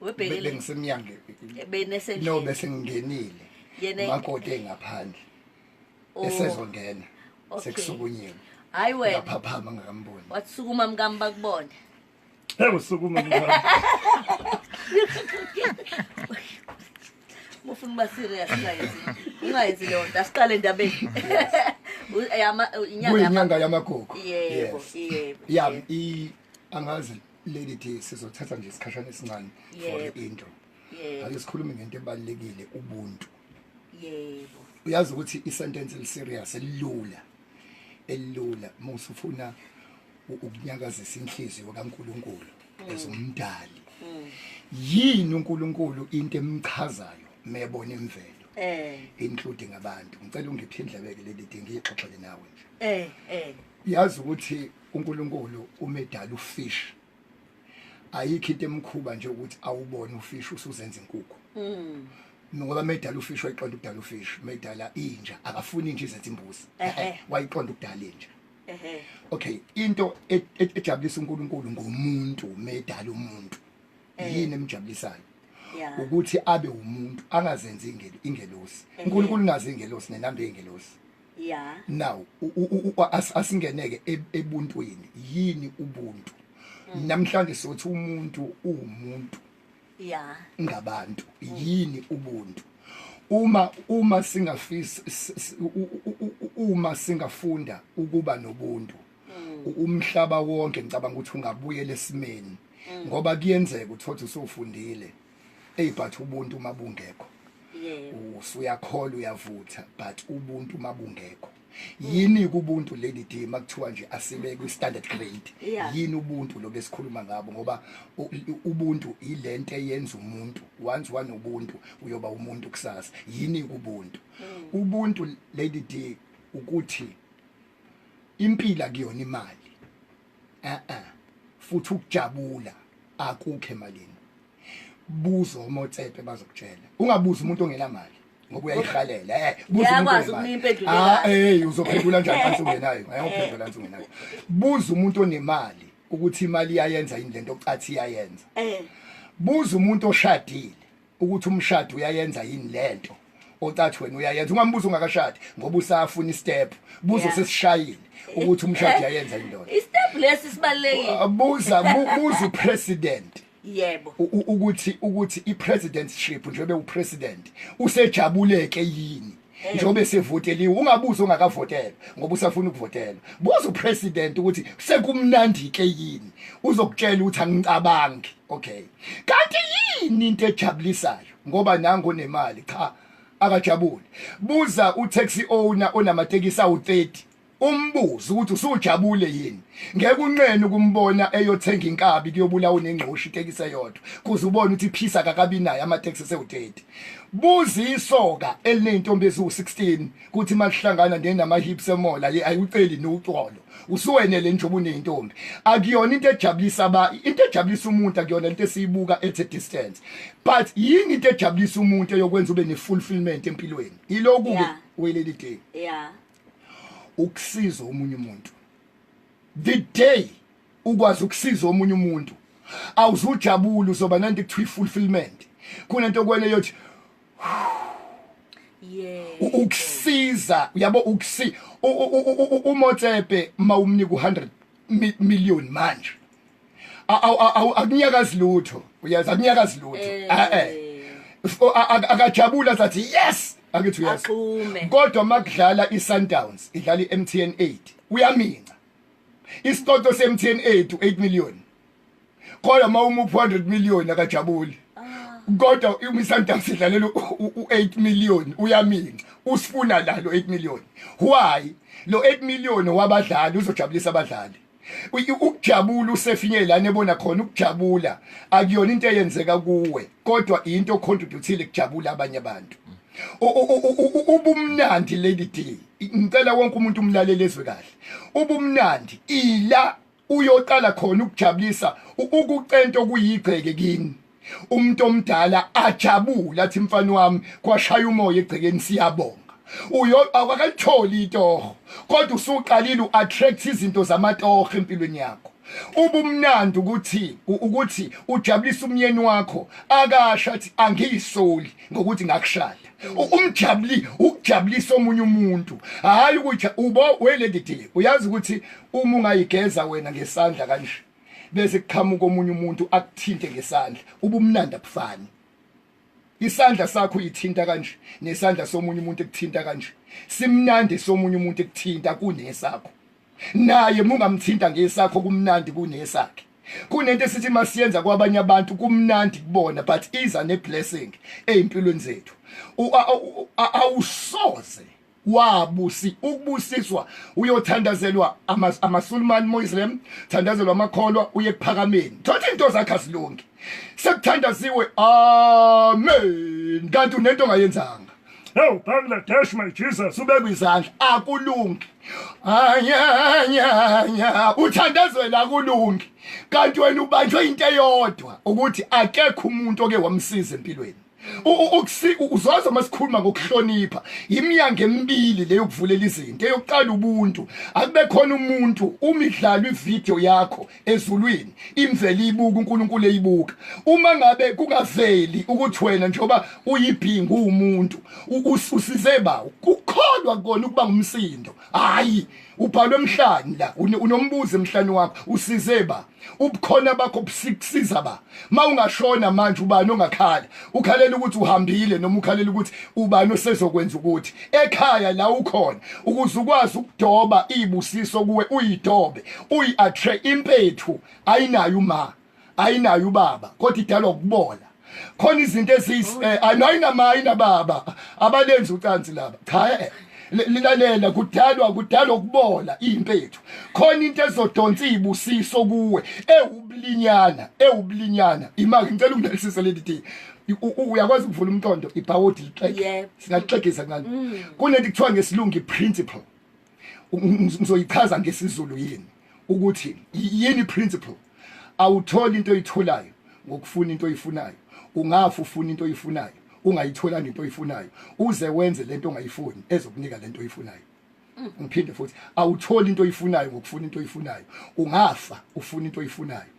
webhekile bengisemnyango benesendlini no bese ngingenile makoti engaphandle oh. esezongena sekusukunyiwe hayi wena ngaphaphama ngikamboni watsukuma mkami bakubone hey usukuma mkami mufuna uba serious guys ungayenzi leyo nto asiqale endabeni inyanga yamagogo yebo yebo ya angazi lady d sizothatha nje isikhashana esincane for Yebo. into yebo ake sikhulume ngento ebalulekile ubuntu yebo uyazi ukuthi isentence eliserious elilula elilula uma usufuna u- ukunyakazisa inhliziyo kaNkuluNkulu ezomdali yini uNkuluNkulu into emchazayo mebona imvelo eh including abantu ngicela ungiphe indlebeke leli dingi ngixoxele nawe nje eh eh uyazi ukuthi uNkulunkulu umedala ufish ayikho into emkhuba nje ukuthi awubone ufish usuzenza inkukhu mm. ngoba medala ufish wayiqonda ukudala ufish medala inja akafuni inja izenza imbuzi wayiqonda ukudala inja okay into e, e, ejabulisa uNkulunkulu ngomuntu medala umuntu eh. yini emjabulisayo ukuthi abe umuntu angazenzi ingelosi uNkulunkulu ungazi ingelosi nenambe ingelosi yeah now asingeneke e, ebuntwini yini ubuntu mm. namhlanje sothi umuntu uwumuntu yeah ngabantu mm. yini ubuntu uma uma singafisa uma singafunda ukuba nobuntu mm. umhlaba wonke ngicabanga ukuthi ungabuyela esimeni mm. ngoba kuyenzeka uthothi usufundile eyi but ubuntu uma bungekho usuyakhola uyavutha but ubuntu uma bungekho yini kubuntu lady d makuthiwa nje asibe kwi standard grade yini ubuntu lo besikhuluma ngabo ngoba ubuntu ilento eyenza umuntu once one ubuntu uyoba umuntu kusasa yini kubuntu mm. ubuntu lady d ukuthi impila kuyona imali eh eh futhi ukujabula akukho emalini buzo omotsepe bazokutshela ungabuzi umuntu ongela mali ngoba uyayihalela eh buza umuntu unempendulo ah hey uzophendula njani kanti ungenayo ayophendula kanti ungenayo buza umuntu onemali ukuthi imali iyayenza yini lento ocathi iyayenza eh buza umuntu oshadile ukuthi umshado uyayenza yini lento ocathi wena uyayenza ungambuza ungakashadi ngoba usafuna istep buzo yeah. sesishayile ukuthi umshado uyayenza indoda istep lesi sibalekile uh, buza buza upresident yebo ukuthi ukuthi ipresidentship njengoba upresident usejabuleke yini njengoba esevoteliwe ungabuza ongakavotelwa ngoba usafuna ukuvotelwa buza upresident ukuthi sekumnandi ke yini uzokutshela ukuthi angicabangi okay kanti yini into ejabulisayo ngoba nango nemali cha akajabule buza utaxi owner onamatekisi awu 30 umbuzo ukuthi usujabule yini ngeke unqene ukumbona eyothenga inkabi kuyobulawa unengqoshi itekisi eyodwa kuze ubone ukuthi phisa kakabi naye amateksi sewu-30 buza isoka eliney'ntombi eziwu-16 kuthi uma lihlangana nenama-hips emola ye ayiwuceli niwucolo usuwenele njengoba uney'ntombi akuyona into ejabulisa ba into ejabulisa umuntu akuyona into esiyibuka at a distance but yini into ejabulisa umuntu eyokwenza ube ne-fulfillment empilweni yiloku-ke yeah. weleli day yeah. ukusiza omunye umuntu the day ukwazi ukusiza omunye umuntu awuzujabula uzoba nanto ekuthiwa i-fulfillment kunento okwele yothi ukusiza uyabo ukusi umotsepe mawumnika u100 million manje akunyakazi lutho uyazi akunyakazi lutho eh. ah, eh. akajabula sathi yes angithi yes kodwa makudlala iSundowns idlala iMTN 8 uyaminca isicoco seMTN 8 u8 million kodwa mawuma u400 million akajabuli kodwa uMisanta sidlalela u8 million uyaminca usifuna la lo 8 million why lo 8 million wabadlali uzojabulisa abadlali ukujabula usefinye lana ebona khona ukujabula akuyona into eyenzeka kuwe kodwa into ocontributeile kujabula abanye abantu ubumnandi lady d ngicela wonke umuntu umlalele ezwe kahle ubumnandi ila uyoqala khona ukujabulisa ukucento kuyigceke kini umuntu omdala ajabula athi mfana wami kwashaya umoya egcekeni siyabonga uyo awakayitholi itoho kodwa usuqalile uattract izinto zamatoho empilweni yakho ubumnandi ukuthi ukuthi ujabulisa umyeni wakho akasha athi angiyisoli ngokuthi ngakushada umjabuli ukujabulisa omunye umuntu hayi ukuthi ubo welendidile uyazi ukuthi uma ungayigeza wena ngesandla kanje bese kuqhamuka omunye umuntu akuthinte ngesandla ubumnandi abufani isandla sakho uyithinta kanje nesandla somunye umuntu ekuthinta kanje simnandi somunye umuntu ekuthinta kunesakho naye mungamthinta ngesakho kumnandi kunesakhe kunento esithi masiyenza kwabanye abantu kumnandi kubona but iza ne blessing ezimpilweni zethu awusoze wabusi ukubusiswa uyothandazelwa amasulumani muslim thandazelwa amakholwa uye kuphakameni thothi into zakhe azilungi sekuthandaziwe amen kanti unento ongayenzanga Ewu Bangladesh my Jesus ubekwe izandla akulungi anyanyanya uthandazela akulungi kanti wena ubanjwe into eyodwa ukuthi akekho umuntu oke wamsiza empilweni uzoza masikhuluma ngokuhlonipha imnyango emibili leyo kuvulela izinto eyokuqala ubuntu akube khona umuntu uma idlalwa ivideo yakho ezulwini imvele ibuka uNkulunkulu eyibuka uma ngabe kungaveli ukuthi wena njengoba uyibhingu umuntu usize bawo kukholwa kona ukuba ngumsindo hayi ubhalwe emhlanje la unombuzo emhlanje wakho usize ba ubukhona bakho busiza ba mawungashona manje ubani ongakhala ukhalela ukuthi uhambile noma ukhalela ukuthi ubani osezokwenza ukuthi ekhaya la ukhona ukuze ukwazi ukudoba ibusiso kuwe uyidobe uyiattract impethu ayinayo uma ayinayo ubaba kodwa idalwa ukubola khona izinto ezis eh, ayinama ayinababa abalenzi ucansi laba cha eh, lilalela kudalwa kudalwa ukubola impethu khona into ezodonsa ibusiso kuwe ewubulinyana ewubulinyana imake ngicela ungelisise leli thing uyakwazi ukuvula umqondo ibhawodi lixeke singaxegisa kancane mm. kunento kuthiwa ngesilungu i-principle ngizoyichaza ngesizulu yini ukuthi yini principle awutholi into oyitholayo ngokufuna into oyifunayo ungafa ufuna into oyifunayo ungayitholanga into oyifunayo uze wenze lento ongayifuni ezokunika lento oyifunayo mm. ngiphinde futhi awutholi into oyifunayo ngokufuna into oyifunayo ungafa ufuna into oyifunayo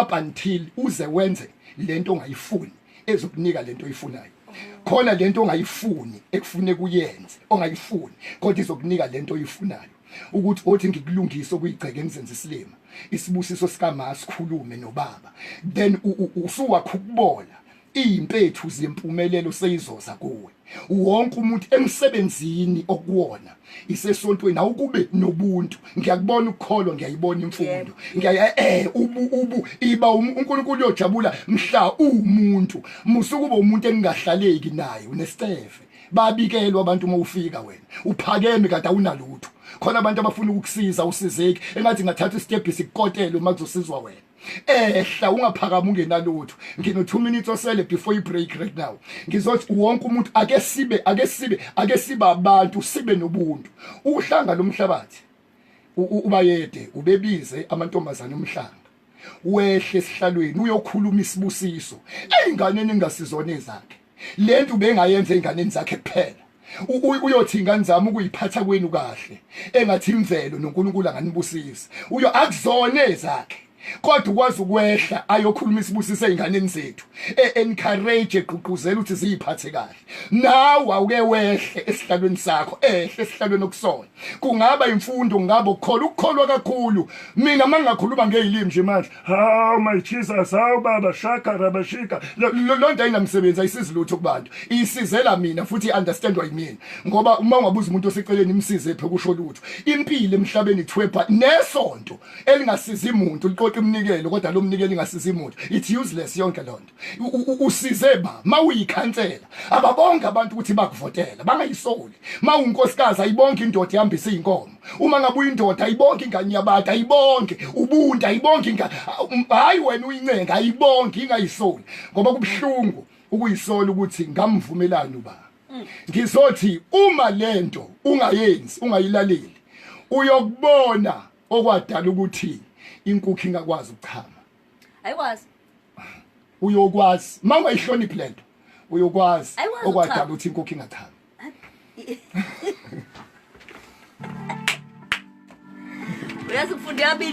up until uze wenze lento ongayifuni ezokunika lento oyifunayo khona lento ongayifuni ekufune kuyenze ongayifuni kodwa izokunika lento oyifunayo ukuthi othi ngikulungise okuyigceke emzenza isilima isibusiso sikama sikhulume nobaba then usuwakhukubola izimpethu zempumelelo seyizoza kuwe wonke umuntu emsebenzini okuwona isesontweni awukube nobuntu ngiyakubona ukukholwa ngiyayibona imfundo ngiyaye eh ubu ubu iba um, uNkulunkulu uyojabula mhla umuntu musukuba umuntu engahlaleki naye unescefe babikelwa abantu uma ufika wena uphakeme kade awunalutho khona abantu abafuna ukukusiza usizeki engathi ngathatha isitebhisi kukotele uma kuzosizwa wena ehla ungaphakama ungenalutho ngino 2 minutes osele before you break right now ngizothi wonke umuntu ake sibe ake sibe ake sibe abantu sibe nobuntu uhlanga lomhlabathi ubayede ubebize amantombazana omhlanga wehle esihlalweni uyokhuluma isibusiso eyinganeni engasizona ezakhe le nto ubengayenza ey'nganeni zakhe kuphela uyothi ingane zami ukuyiphatha kwenu kahle engathi imvelo noNkulunkulu anganibusisa uyo akuzona ezakhe kodwa ukwazi ukwehla ayokhuluma isibusise ezinganeni zethu e-encourage egqugquzela ukuthi ziyiphathe kahle nawe awuke wehle esihlalweni sakho ehle esihlalweni okusona kungaba imfundo kungaba ukukholwa ukukholwa kakhulu mina mangingakhuluma ngezilimi nje manje Hawu my Jesus, hawu baba shaka rabashika. Lo lo nto ayinamsebenzi ayisizi lutho kubantu. Isizela mina futhi understand why mina. Ngoba uma ungabuza umuntu oseceleni imsize phe kusho lutho. Impilo emhlabeni ithwebha nesonto elingasizi umuntu liqoqa iminikelo kodwa lo mnikelo ingasizi umuntu. It's useless yonke lonto. usize ba mawuyikhansela ababonga abantu ukuthi bakuvotela bangayisoli mawunkosikazi ayibonke indoda ihambisa izinkomo uma ngabe uyindoda ayibonke ingane yabantu ayibonke ubuntu ayibonke ingane um, hayi wena uyincenga ayibonke ingayisoli ngoba kubuhlungu ukuyisola ukuthi ngamvumelani uba mm. ngizothi uma lento ungayenzi ungayilaleli uyokubona okwadala ukuthi inkukhu ingakwazi ukuchama ayikwazi uyokwazi mama ihloniphi lento uyokwazi okwadala ukuthi inkukhu ingathami uyazi kufunde yabili